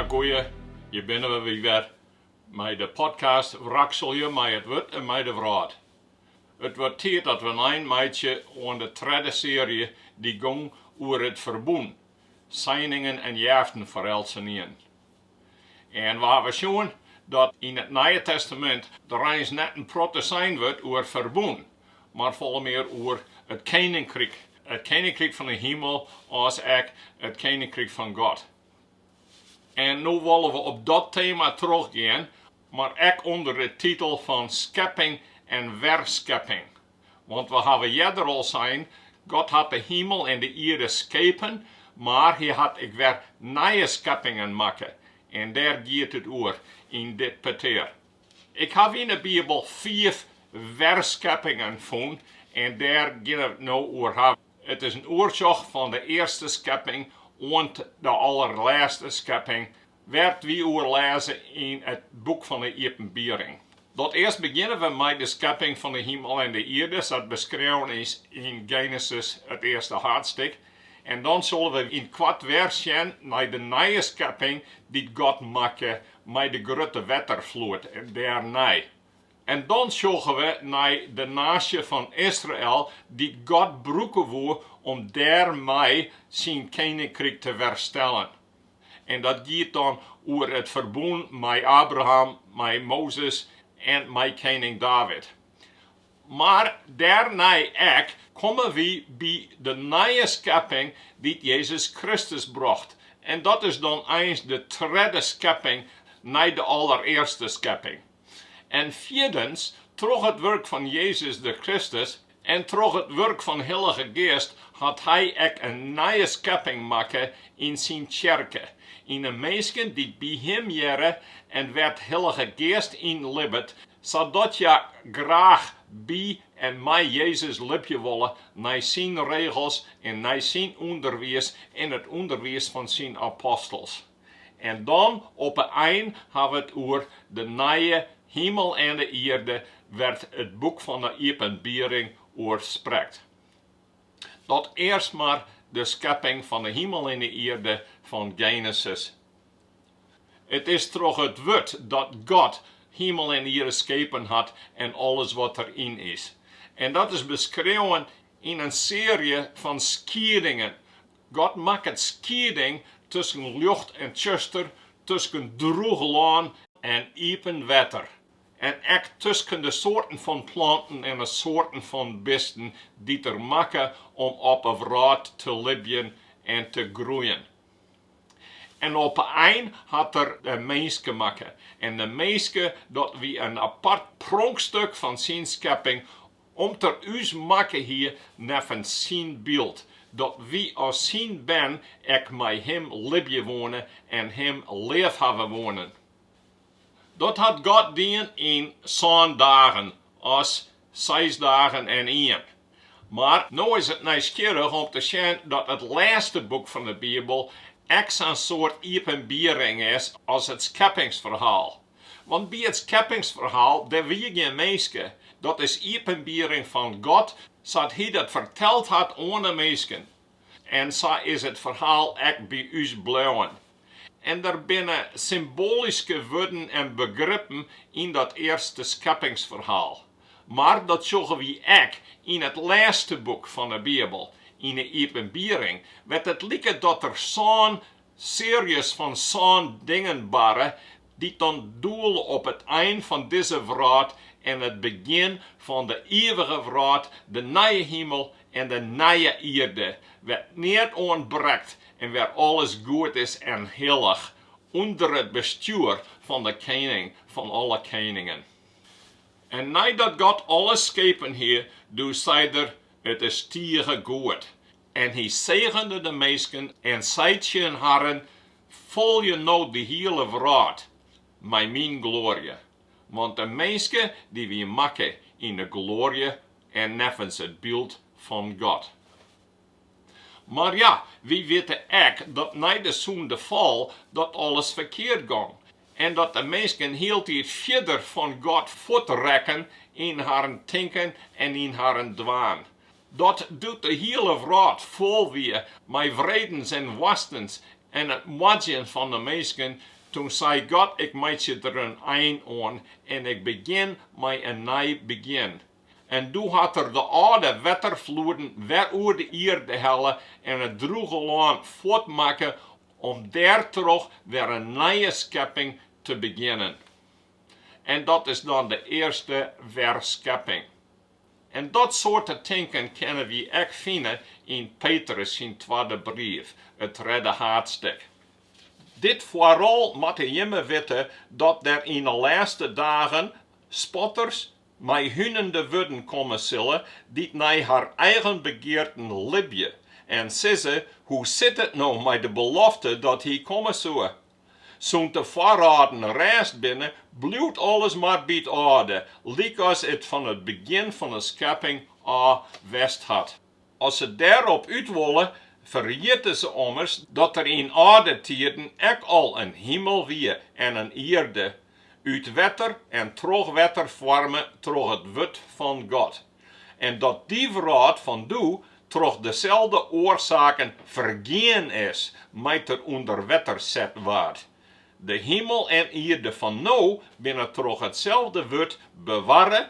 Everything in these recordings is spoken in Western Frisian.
Mar goeie, hjir binne we wy wer mei de podcast Wrakselje mei it wurd en mei de wrâld. It wurdt tiid dat we in ein meitsje oan de tredde searje dy't gong oer it ferbûn, seiningen en jeaften foar eltsenien. En we hawwe sjoen dat yn it Nije Testamint der eins net in protte sein wurdt oer ferbûn, mar folle mear oer it Keninkryk, it Keninkryk fan 'e himel as ek it Keninkryk fan God. En no wolle we op dat tema trochgean, mar ek ûnder de titel fan skepping en werskepping. Want we hawwe earder al sein, God hat de himel en de ierde skepen, mar Hy hat ek wer nije skeppingen makke. En dêr giet it oer yn dit petear. Ik haw yn 'e Bibel fiif werskeppingen fûn en dêr geane we it no oer hawwe. It is in oersjoch fan de earste skepping oant de allerlêste skepping Wêr't wy oer lêze yn it boek fan 'e Iepenbiering. Dat earst begjinne we mei de skepping fan 'e himel en 'e ierde, sa't beskreaun is yn Genesis, it earste haadstik, en dan solle we yn it koart wer sjen nei de nije skepping dy't God makke mei de grutte wetterfloed en dêrnei. En dan sjogge we nei de naasje fan Israel dy't God brûke woe om dêrmei syn keninkryk te werstellen. En dat giet dan oer it ferbûn mei Abraham, mei Mozes en mei kening David. Mar dêrnei ek komme wy by de nije skepping dy't Jezus Kristus brocht. En dat is dan eins de tredde skepping nei de allerearste skepping. En fjirdens, troch it wurk fan Jezus de Kristus en troch it wurk fan Hillige Geast hat Hy ek in nije skepping makke yn Syn Tsjerke, yn 'e minsken dy't by Him hearre en wêr't Hillige Geast yn libbet, sadat hja graach by en mei Jezus libje wolle nei Syn regels en nei Syn ûnderwiis en it ûnderwiis fan Syn apostels. En dan op 'e ein ha we it oer de nije himel en de ierde wêr't it boek fan 'e Iepenbiering oer sprekt. Dat earst mar de skepping fan 'e himel en 'e ierde fan Genesis. It is troch it wurd dat God himel en ierde skepen hat en alles wat der yn is. En dat is beskreaun yn in searje fan skiedingen God makket skieding tusken ljocht en tsjuster, tusken drûch lân en iepen wetter, en ek tusken de soarten fan planten en de soarten fan bisten dy't er makke om op 'e wrâld te libjen en te groeien. En op 'e ein hat er de minske makke. En de minske, dat wie in apart pronkstuk fan syn skepping, Om't er ús makke hie neffens syn byld, dat wy as syn bern ek mei him libje woene en him leafhawwe woenen. Dat hat God dien, yn sân dagen, as seis dagen en ien. Mar no is it nijsgjirrich om te sjen dat it lêste boek fan de Bibel ek sa'n soart iepenbiering is as it skeppingsferhaal. Want by it skeppingsferhaal der wie gjin minsken, dat is iepenbiering fan God sa't Hy dat ferteld hat oan 'e minsken. En sa is it ferhaal ek by ús bleauwen. En der binne symboalyske wurden en begrippen yn dat earste skeppingsferhaal. Mar dat sjogge wy ek yn it lêste boek fan 'e Bibel, yn 'e Iepenbiering, wêr't it liket dat der sân searjes fan sân dingen barre, dy't dan doele op it ein fan dizze wrâld en it begjin fan de ivige wrâld, de nije himel en de nije ierde, wêr't neat ûntbrekt en wêr alles goed is en hillich, ûnder it bestjoer fan de Kening fan alle keningen. En neidat God alles skepen hie, doe sei Er, It is tige goed. En hy segende de minsken en sei tsjin harren, Folje no de hiele wrâld mei myn gloarje, want de minske dy wie makke yn de gloarje en neffens it byld fan God. Mar ja, wy witte ek dat nei de sûndefal dat alles ferkeard gong en dat de minsken hieltyd fierder fan God fuort rekken yn harren tinken en yn harren dwaan. Dat doe't de hiele wrâld fol wie mei wredens en woastens en it moardzjen fan de minsken, toen sei God, Ik meitsje der in ein oan en ik begjin mei in nij begjin. En doe hat er de âlde wetterfloeden wer oer de ierde helle en it drûge lân fuort makke, om dêrtroch wer in nije skepping te begjinnen. En dat is dan de earste werskepping. En dat soarte tinken kinne wy ek fine yn Petrus syn twadde brief, it tredde haadstik. Dit foaral moatte jimme witte dat der yn 'e lêste dagen spotters mei húnende wurden komme sille, dy't nei har eigen begearten libje en sizze, Hoe sit it no mei de belofte dat hy komme soe? Sûnt de foarrâlden rêst binne, bliuwt alles mar by it âlde, lykas it fan it begjin fan de skepping ôf west hat. As se dêrop út wolle, ferjitte se ommers dat der yn âlde tiden ek al in himel wie en in ierde, út wetter en troch wetter foarme troch it wurd fan God. en dat dy wrâld fan doe troch deselde oarsaken fergean is mei't er ûnder wetter set waard. De himel en ierde fan no binne troch itselde wurd bewarre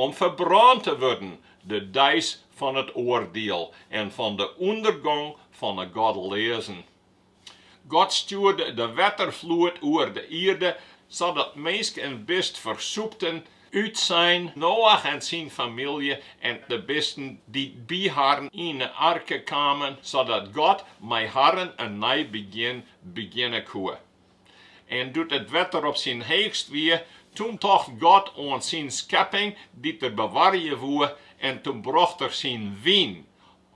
om ferbrân te wurden de deis fan it oardiel en fan de ûndergong fan 'e godleazen. God stjoerde de wetterfloed oer de ierde, sadat minsk en bist fersûpten. Utsein Noach en syn famylje en de bisten dy't by harren yn 'e arke kamen, sadat God mei harren in nij begjin begjinne koe. En doe't it wetter op syn heechst wie, toen tocht God oan syn skepping dy't er bewarje woe, en toen brocht er syn wyn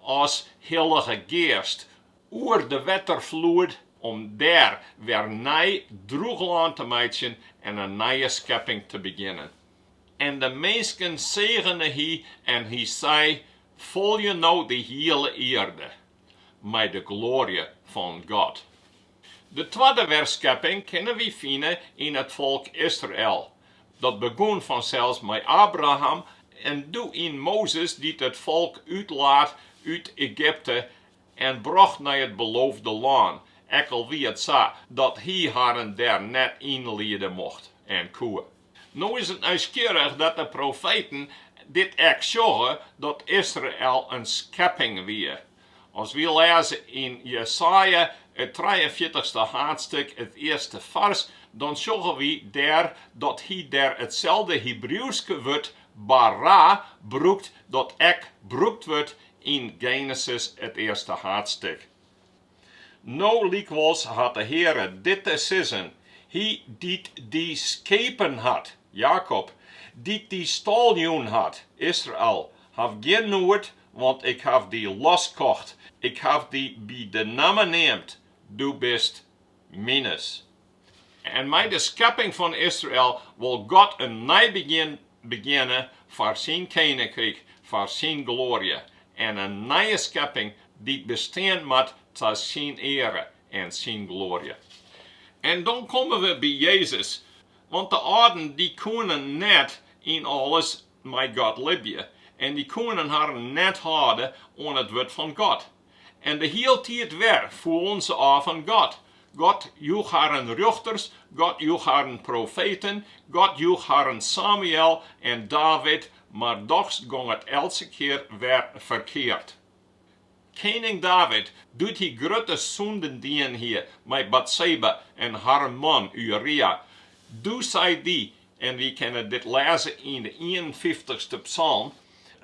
as Hillige Geast oer de wetterfloed om dêr wer nij droech lân te meitsjen en in nije skepping te begjinnen. En de minsken segene hy en hy sei, Folje no de hiele ierde, mei de gloarje fan God. De twadde werskepping kinne wy fine yn it folk Israel. Dat begûn fansels mei Abraham en doe yn Mozes dy't it folk útlaat út Egypte en brocht nei it Beloofde Lân, ek al wie it sa dat hy harren dêr net yn liede mocht en koe. No is it nijsgjirrich dat de profeten dit ek sjogge, dat Israel in skepping wie. As wy lêze yn Jesaja, it trijeenfjirtichste haadstik, it earste fars, dan sjogge wy dêr dat hy dêr itselde Hebriuwske wurd, bara, brûkt dat ek brûkt wurdt yn Genesis, it earste haadstik. No lykwols hat de Heare dit te sizzen, Hy dy't dy skepen hat, Jakob, dy't dy stâl jûn hat, Israel, haw gjin noed, want ik haw dy loskocht, ik haw dy by de namme neamd, do bist mines. En mei de skepping fan Israel wol God in nij begjin begjinne foar syn keninkryk, foar syn gloarje, en in nije skepping dy't bestean moat ta syn eare en syn gloarje. En dan komme we by Jezus, want de âlden dy koenen net yn alles mei God libje en dy koenen harren net hâlde oan it wurd fan God. en de hieltiid wer foelen se ôf fan God. God joech harren rjochters, God joech harren profeten, God joech harren Samuël en David, mar dochs gong it eltse kear wer ferkeard. Kening David, doe't hy grutte sûnden dien hie mei Batseba en harren man Uria, doe sei dy En wy kinne dit lêze yn de ienenfyftichste psalm,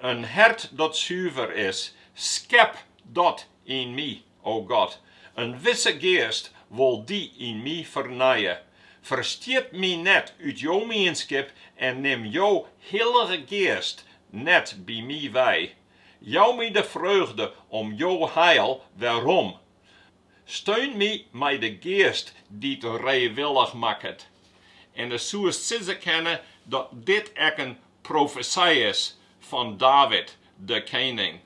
In hert dat suver is, skep dat yn my, o God. In wisse geast wol dy yn my fernije. Ferstjit my net út Jo mienskip en nim Jo Hillige Geast net by my wei. Jou my de freugde om Jo heil werom. Steun my mei de geast dy't reewillich makket. En dan soest sizze kinne dat dit ek in profesy is fan David, de kening.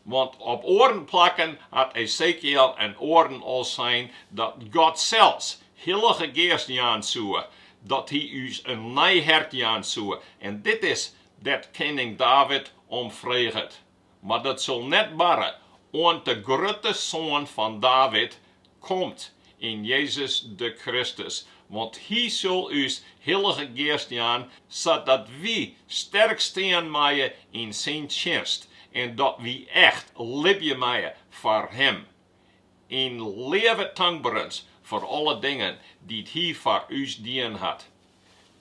Want op oaren plakken hat Esekiel en oaren al sein dat God sels Hillige Geast jaan soe, dat Hy ús in nij hert jaan soe, en dit is dêr't kening David om freget. Mar dat sil net barre, oant de grutte Soan fan David komt yn Jezus de Kristus, want Hy sil ús Hillige Geast jaan, sadat wy sterk stean meie yn Syn tsjinst en dat wy echt libje meie foar Him. Yn leave tankberens foar alle dingen dy't Hy foar ús dien hat.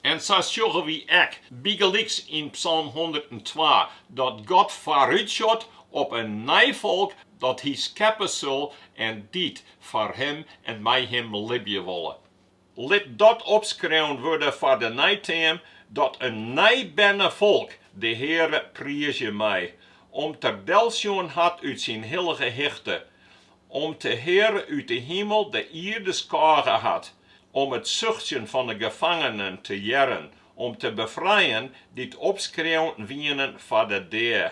En sa sjogge wy ek bygelyks yn psalm hûndertentwa dat God foarútsjot op in nij folk dat Hy skeppe sil en dy't foar Him en mei Him libje wolle. Lit dat opskreaun wurde foar de neiteam, dat in nijberne folk de Heare priizje mei, om't er delsjoen hat út syn hillige hichte, om't de Heare út de himel de ierde skôge hat, om it suchtsjen fan 'e gefangenen te hearren, om te befrijen dy't opskreaun wienen foar de dea.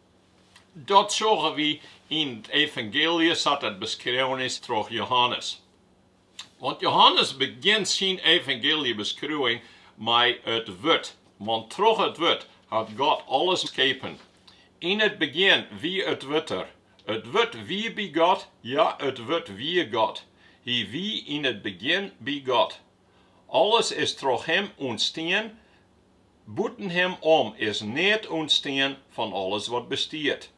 Dat sjogge wy yn it evangeelje sa't it beskreaun is troch Jehannes. Want Jehannes begjint syn evangeeljebeskriuwing mei it Wurd, want troch it Wurd hat God alles skepen. Yn it begjin wie it Wurd der. It Wurd wie by God, ja, it Wurd wie God. Hy wie yn it begjin by God. Alles is troch Him ûntstien, bûten Him om is neat ûntstien fan alles wat bestiet.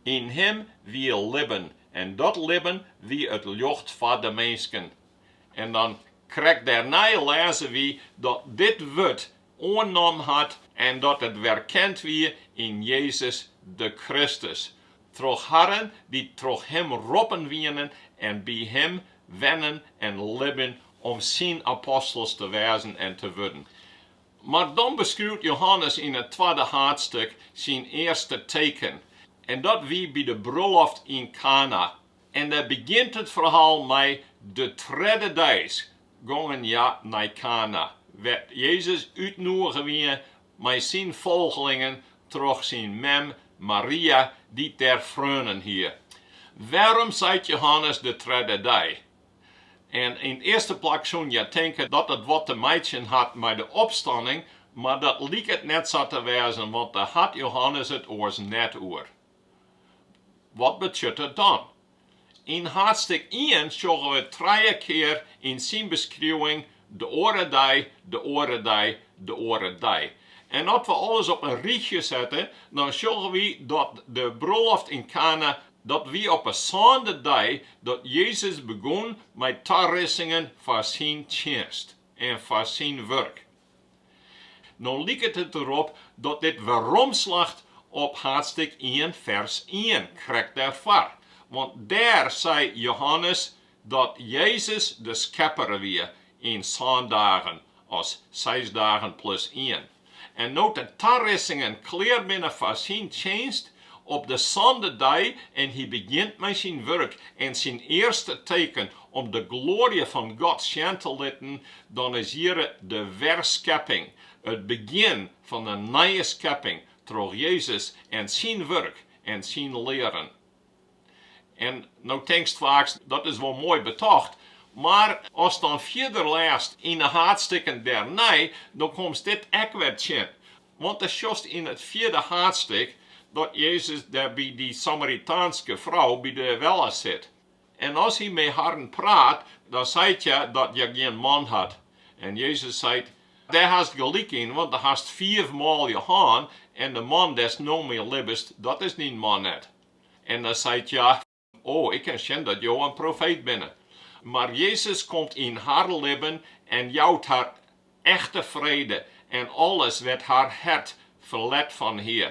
Yn Him wie libben en dat libben wie it ljocht foar de minsken. En dan krekt dêrnei lêze wy dat dit Wurd oannommen hat en dat it werkend wie yn Jezus de Kristus, troch harren dy't troch Him roppen wienen en by Him wennen en libjen om Syn apostels te wêzen en te wurden. Mar dan beskriuwt Johannes yn it twadde haadstuk syn earste teken, en dat wie by de bruloft yn Kana. En dêr begjint it ferhaal mei de tredde dei gongen hja nei Kana, wêr't Jezus útnoege wie mei syn folgelingen troch syn mem Maria, dy't dêr freonen hie. Wêrom seit Jehannes de tredde dei? Yn 't earste plak soene je tinke dat it wat te meitsjen hat mei de opstanning, mar dat liket net sa te wêzen, want dêr hat Jehannes it oars net oer. Wat betsjut it dan? Yn haadstik ien sjogge we trije kear yn syn beskriuwing de oare dei, de oare dei, de oare dei. En as we alles op in rychje sette, dan sjogge wy dat de bruloft yn Kana, dat wie op 'e sânde dei dat Jezus begûn mei tarissingen foar syn tsjinst en foar syn wurk. No liket it derop dat dit weromslacht op haadstik ien fers ien krekt derfoar, want dêr sei Johannes dat Jezus de Skepper wie yn sân dagen as seis dagen plus ien. En no't de tarissingen klear binne foar syn tsjinst, op de sânde dei, en hy begjint mei syn wurk en syn earste teken om de gloarje fan God sjen te litten, dan is hjir de werskepping, it begjin fan de nije skepping troch Jezus en syn wurk en syn learen. En no tinkst faaks, dat is wol moai betocht, mar ast dan fierder lêst yn 'e haadstikken dernei, dan komst dit ek wer tsjin. Want dan sjochst yn it fjirde haadstik dat Jezus dêr by dy Samaritaanske frou by de welle sit. En as hy mei harren praat, dan seit hja dat hja gjin man hat. En Jezus seit, Dêr hast gelyk yn, want do hast fiif manlju hân, en de man dêr'st no mei libbest, dat is dyn man net. En dan seit hja, O, ik kin sjen dat jo in profeet binne. Mar Jezus komt yn har libben en jout har echte frede en alles wêr't har hert ferlet fan hie.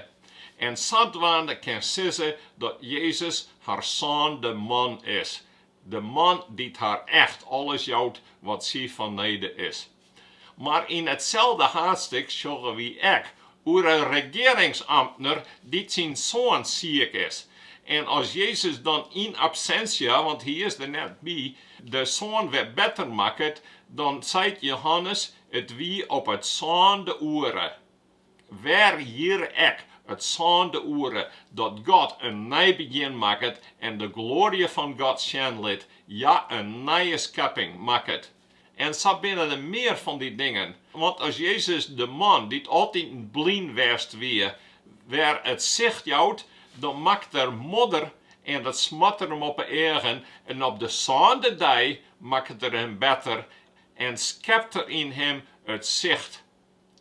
En sadwaande kin sizze dat Jezus har sânde man is, de Man dy't har echt alles jout wat sy fanneden is. Mar yn itselde haadstik sjogge wy ek oer in regearingsamtner dy't syn soan siik is. En as Jezus dan yn absentia, want hy is der net by, de soan wer better makket, dan seit Jehannes, It wie op it sânde oere. Wer hjir ek it sânde oere dat God in nij begjin makket en de gloarje fan God sjen lit, ja, in nije skepping makket. En sa binne der mear fan dy dingen. Want as Jezus de man dy't altiten blyn west wie, wer it sicht jout, dan makket er modder en dat smart er him op 'e eagen, en op de sânde dei makket er him better en skept er yn him it sicht.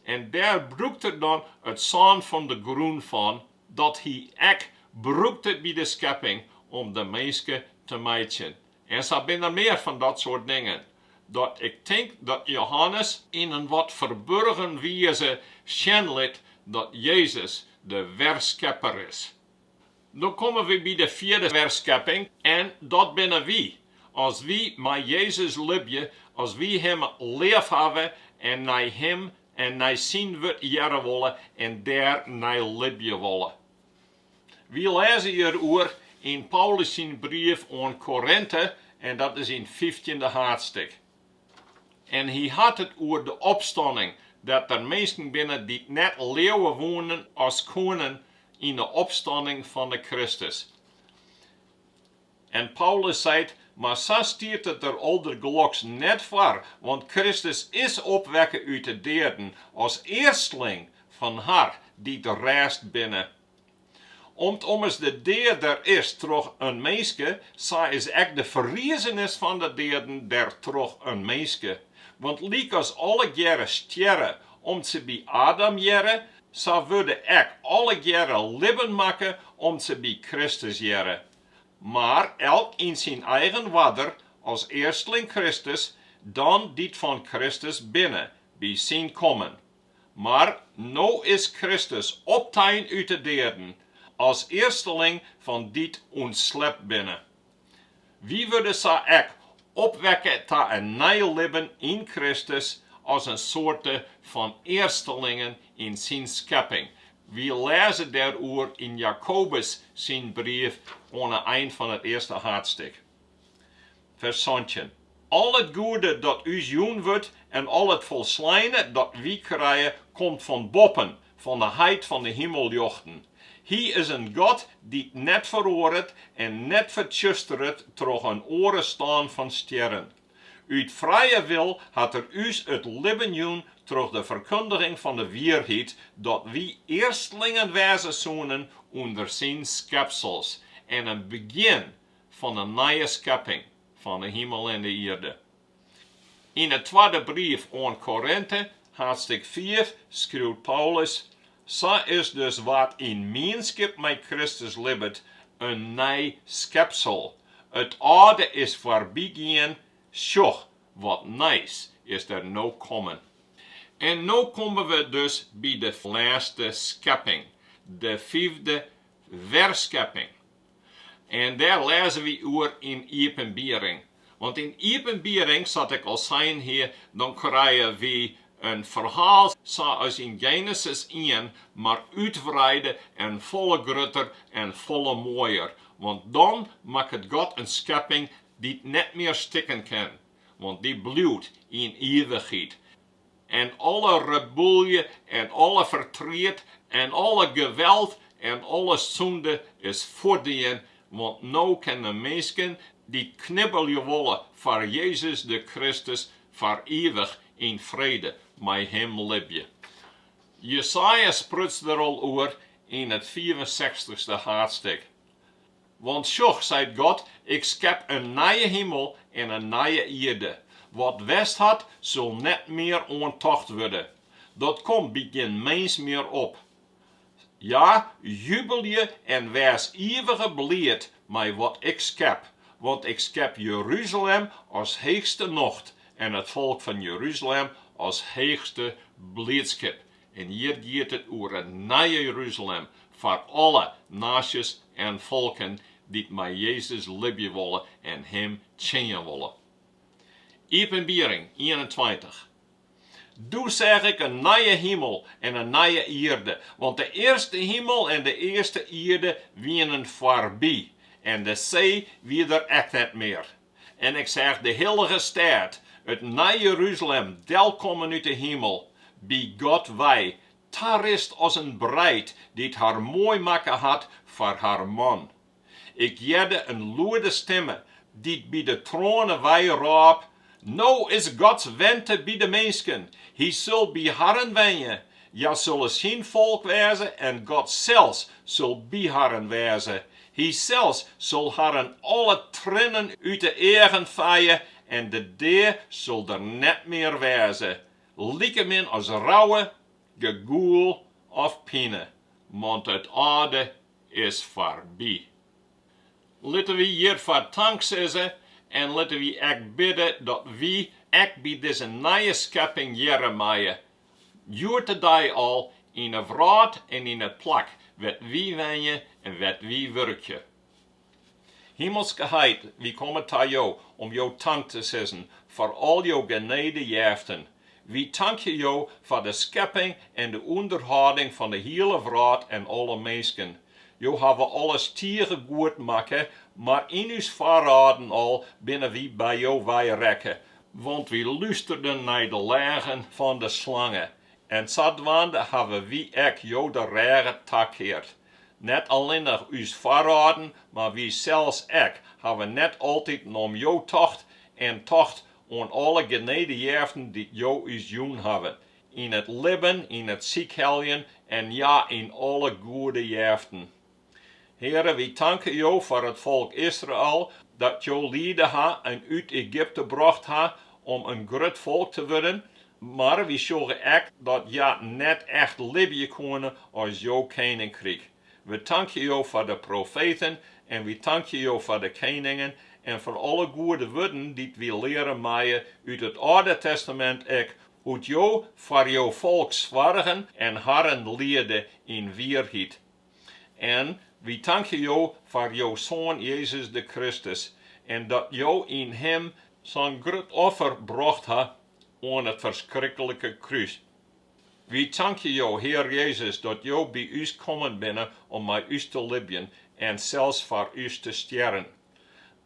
En dêr brûkt er dan it sân fan de grûn fan, dat hy ek brûkte by de skepping om de minske te meitsjen. En sa binne der mear fan dat soart dingen, dat ik tink dat Jehannes, yn in wat ferburgen wize, sjen lit dat Jezus de werskepper is. Dan komme we by de fjirde werskepping en dat binne wy. As wy mei Jezus libje, as wy Him leafhawwe en nei Him en nei Syn Wurd hearre wolle en dêr nei libje wolle. Wy lêze hjiroer yn Paulus syn brief oan Korinte en dat is yn it fyftjinde haadstik. En hy hat it oer de opstanning, dat der minsken binne dy't net leauwe woenen as koenen yn de opstanning fan de Kristus. En Paulus seit, Mar sa stiet it der aldergeloks net foar, want Kristus is opwekke út de deaden as earstling fan har dy't rêst binne Om't ommers de dea der is troch in minske, sa is ek de ferrizenis fan de deaden der troch in minske. Want lykas allegearre stjerre om't se by Adam hearre, sa wurde ek allegearre libben makke om't se by Kristus hearre. Mar elk yn syn eigen oarder, as earstling Kristus, dan dy't fan Kristus binne, by syn kommen. Mar no is Kristus optein út 'e deaden, as earsteling fan dy't ûntslept binne. Wy wurde sa ek opwekke ta in nij libben yn Kristus, as in soarte fan earstelingen yn syn skepping. Wy lêze dêroer yn Jakobus syn brief oan 'e ein fan it earste haadstik. Fers santjin. Al it goede dat ús jûn wurdt en al it folsleine dat wy krije, komt fan boppen, fan 'e heit fan 'e himelljochten. Hy is in God dy't net feroaret en net fertsjusteret troch in oare stân fan stjerren. Ut frije wil hat er ús it libben jûn troch de ferkundiging fan 'e wierheid dat wy earstlingen wêze soenen ûnder syn skepsels en in begjin fan 'e nije skepping fan 'e himel en 'e ierde. Yn 'e twadde brief oan Korinte, haadstik fiif, skriuwt Paulus, Sa is dus wa't yn mienskip mei Kristus libbet, in nij skepsel, it âlde is foarbygien, sjoch, wat nijs is der no kommen. En no komme we dus by de lêste skepping, de fiifde werskepping. En dêr lêze wy oer yn Iepenbiering. Want yn Iepenbiering, sa't ik al sein hie, dan krije wy in ferhaal sa as yn Genesis ien, mar útwreide en folle grutter en folle moaier. Want dan makket God in skepping dy't net mear stikken kin, want dy bliuwt yn ivichheid. en alle reboelje en alle fertriet en alle geweld en alle sûnde is fuortdien, want no kin de minsken, dy't knibbelje wolle foar Jezus de Kristus, foar ivich yn frede mei Him libje. Jesaja spruts der al oer yn it fiifensechstichste haadstik. Want sjoch, seit God, ik skep in nije himel en in nije ierde, wat west hat, sil net mear oan tocht wurde, dat komt by gjin mins mear op. Ja, jubelje en wês ivige bliid mei wat ik skep, want ik skep Jeruzalem as heechste nocht en it folk fan Jeruzalem as heechste bliidskip. En hjir giet it oer it nije Jerusalem foar alle naasjes en folken dy't mei Jezus libje wolle en Him tsjinje wolle. Iepenbiering ienentweintich, Doe seach ik in nije himel en in nije ierde, want de earste himel en de earste ierde wienen foarby en de see wie der ek net mear. En ik seach de hillige stêd, it Nij Jeruzalem, delkommen út de himel, by God wei, tarist as in breid, dy't har moai makke hat foar har man. Ik hearde in lûde stimme, dy't by de troane wei, rôp, No is Gods wente by de minsken, hy sil by harren wenje, Hja sulle syn folk wêze en God sels sil by harren wêze. Hy sels sil harren alle triennen út de eagen feie en de dea sil der net mear wêze, likemin as rouwe, gegoel of pine, want it âlde is foarby. Litte wy hjirfoar tank sizze en litte wy ek bidde dat wy ek by dizze nije skepping hearre meie Hjoed-de-dei al yn 'e wrâld en yn it plak wêr't wy wenje en wêr't wy wurkje. Himelske Heit, wy komme ta Jo om Jo tank te sizzen foar al Jo genedejeften. Wy tankje Jo foar de skepping en de ûnderhâlding fan de hiele wrâld en alle minsken. Jo hawwe alles tige goed makke, mar yn ús foarâlden al binne wy by Jo wei rekke, Want wy lústerden nei de leagen fan de slange, en sadwaande hawwe wy ek jo de rêge takeard. Net allinnich ús foarâlden, mar wy sels ek, hawwe net altyd om jo tocht, en tocht oan alle genedejeften dy't jo ús jûn hawwe, yn it libben, yn it sykheljen en ja, yn alle goede jeften. Heare, wy tanke Jo foar it folk Israel, dat Jo liede ha en út Egypte brocht ha om in grut folk te wurden, mar wy sjogge ek dat hja net echt libje koene as Jo keninkryk. We tankje Jo foar de profeten en wy tankje Jo foar de keningen en foar alle goede wurden dy't wy leare meie út it Alde Testamint, ek hoe't Jo foar Jo folk soargen en harren learde yn wierheid. En wy tankje Jo foar Jo Soan Jezus de Kristus en dat Jo yn Him sa'n grut offer brocht ha oan it ferskrikkelike krús. Wy tankje Jo, Hear Jezus, dat Jo by ús kommen binne om mei ús te libjen en sels foar ús te stjerren.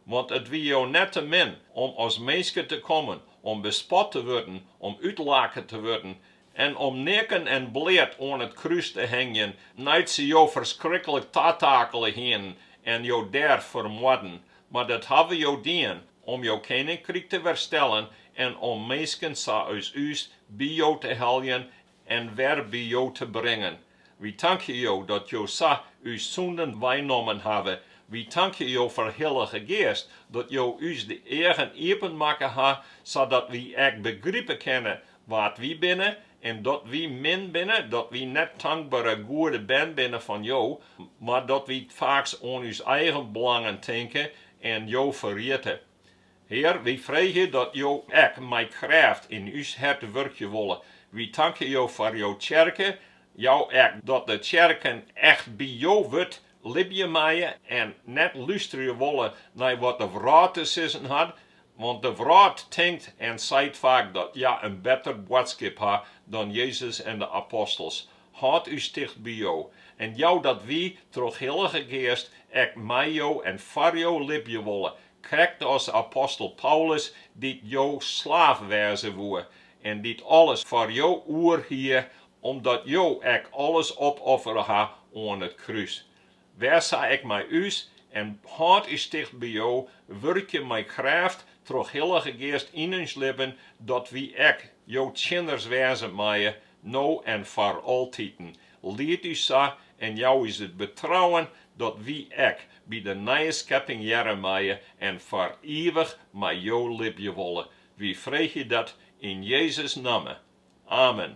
Want it wie jo net te min om as minske te kommen, om bespot te wurden, om útlake te wurden en om neaken en bleat oan it krús te hingjen, nei't se jo ferskriklik tatakele hienen en jo dêr fermoarden. Mar dat hawwe jo dien, om jo keninkryk te werstellen en om minsken sa as ús by jo te heljen en wer by Jo te bringen. Wy tankje Jo dat Jo sa ús sûnden weinommen hawwe. Wy tankje Jo foar Hillige Geast, dat Jo ús de eagen iepen makke ha, sadat wy ek begripe kinne wa't wy binne en dat wy min binne, dat wy net tankbere goede bern binne fan Jo, mar dat wy faaks oan ús eigen belangen tinke en Jo ferjitte. Hear, wy freegje dat Jo ek mei krêft yn ús hert wurkje wolle. Wy tankje Jo foar Jo Tsjerke, Jou ek dat de Tsjerken echt by Jo wurd libje meie en net lústerje wolle nei wat de wrâld te sizzen hat, want de wrâld tinkt en seit faak dat hja in better boadskip ha dan Jezus en de apostels. Hâld ús ticht by Jo en jou dat wy, troch Hillige Geast, ek mei Jo en foar Jo libje wolle, krekt as apostel Paulus, dy't Jo slaaf wêze woe en dy't alles foar Jo oer hie, omdat Jo ek alles opoffere ha oan it krús. Wês sa ek mei ús en hâld ús ticht by Jo, wurkje mei krêft troch Hillige Geast yn ús libben, dat wy ek Jo tsjinners wêze meie, no en foar altiten. Lied ús sa en jou ús it betrouwen dat wy ek by de nije skepping hearre meie en foar ivich mei Jo libje wolle. Wy freegje dat yn Jezus' namme. Amen.